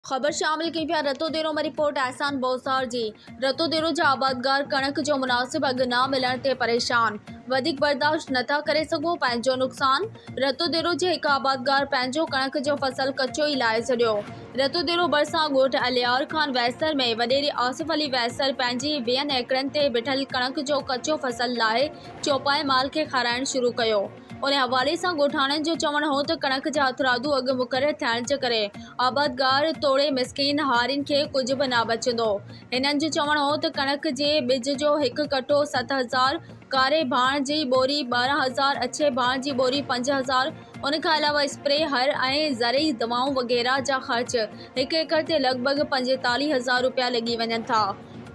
خبر شامل ڪيون پيا رتو ديرو مان رپورٽ احسان بوساڻ جي رتو ديرو جا آبادگار ڪڻڪ جو مناسب اگهه نه ملڻ تي پريشان وڌيڪ برداشت نٿا ڪري سگهون پنهنجو نقصان رتو ديرو جي هڪ آبادگار پنهنجو ڪڻڪ جو فصل ڪچو ئي لاهي ڇڏيو رتو ديرو ڀرسان ڳوٺ الهيار خان ويسر ۾ وڏيري آصف علي ويسر پنهنجي ويهن ايڪڙن تي بيٺل ڪڻڪ جو ڪچو فصل لاهي چوپائي مال کي کارائڻ شروع ڪيو ان حوالي سان ڳوٺاڻن جو چوڻ هو ته ڪڻڪ جا هٿرادو اگهه مقرر ٿيڻ جي ڪري آبادگار توڙي مسڪين هارين کي ڪجهه به نه بچندو هنن جو چوڻ هو ته ڪڻڪ جي ٻج جو هڪ ڪٽو ست هزار ڪاري ڀاڻ جي ٻوري ٻارهن هزار اڇي ڀاڻ جي ٻوري پنج هزار ان کان علاوه اسپري هر ۽ زرعي دوائون وغيره جا خرچ هڪ ايڪڙ تي لڳ ڀڳ پنجيتاليهه هزار روپيا لڳي وڃن ٿا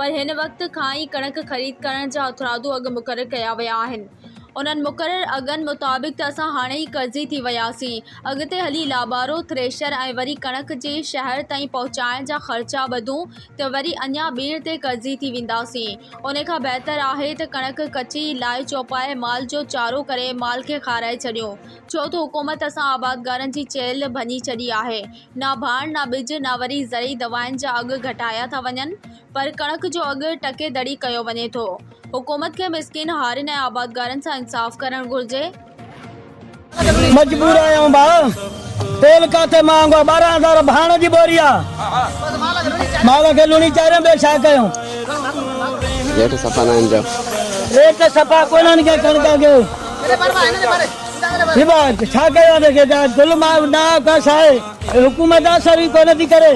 پر هن وقت کان ئي ڪڻڪ خريد ڪرڻ جا هٿرادو اگهه مقرر ڪيا ويا آهن. انهن مقرر اگهن مطابق ته اسان هاڻي ئي قرضي ٿي وياسين. اڳتي هلي لابارو، ٿريشر ۽ وري ڪڻڪ جي شهر تائين پهچائڻ جا خرچا ٻڌون ته وري اڃا ٻيڻ تي قرضي ٿي وينداسين. ان کان بهتر آهي ته ڪڻڪ ڪچي ئي لائي چوپائي مال جو چارو ڪري مال کي کارائي ڇڏيون. ڇو ته حڪومت اسان آبادگارن جي چيلهه ڀڃي ڇڏي آهي. نه ڀاڻ، نه ٻج، نه وري زرعي دوائن جا اگهه گهٽايا ٿا وڃن. پر ڪڻڪ جو اگهه ٽڪي دڙي ڪيو وڃي ٿو، حڪومت کي مسڪين هارين ۽ آبادگارن سان انصاف ڪرڻ گهرجي. مجبور آهيون ڀاء تيل ڪاٿي مهانگو آ ٻارهن هزار ڀاڻ جي ٻوري آ مال کي لوڻي چاريون ٻيو ڇا ڪيون. ريٽ صفا ناهن پيا. ريٽ صفا ڪونهن ڪي ڪڻڪ اگهه جي ڀاء ڇا ڪيون ته ظلم آ ڏاهه ڪس آهي حڪومت اثر ئي ڪونه ٿي ڪري.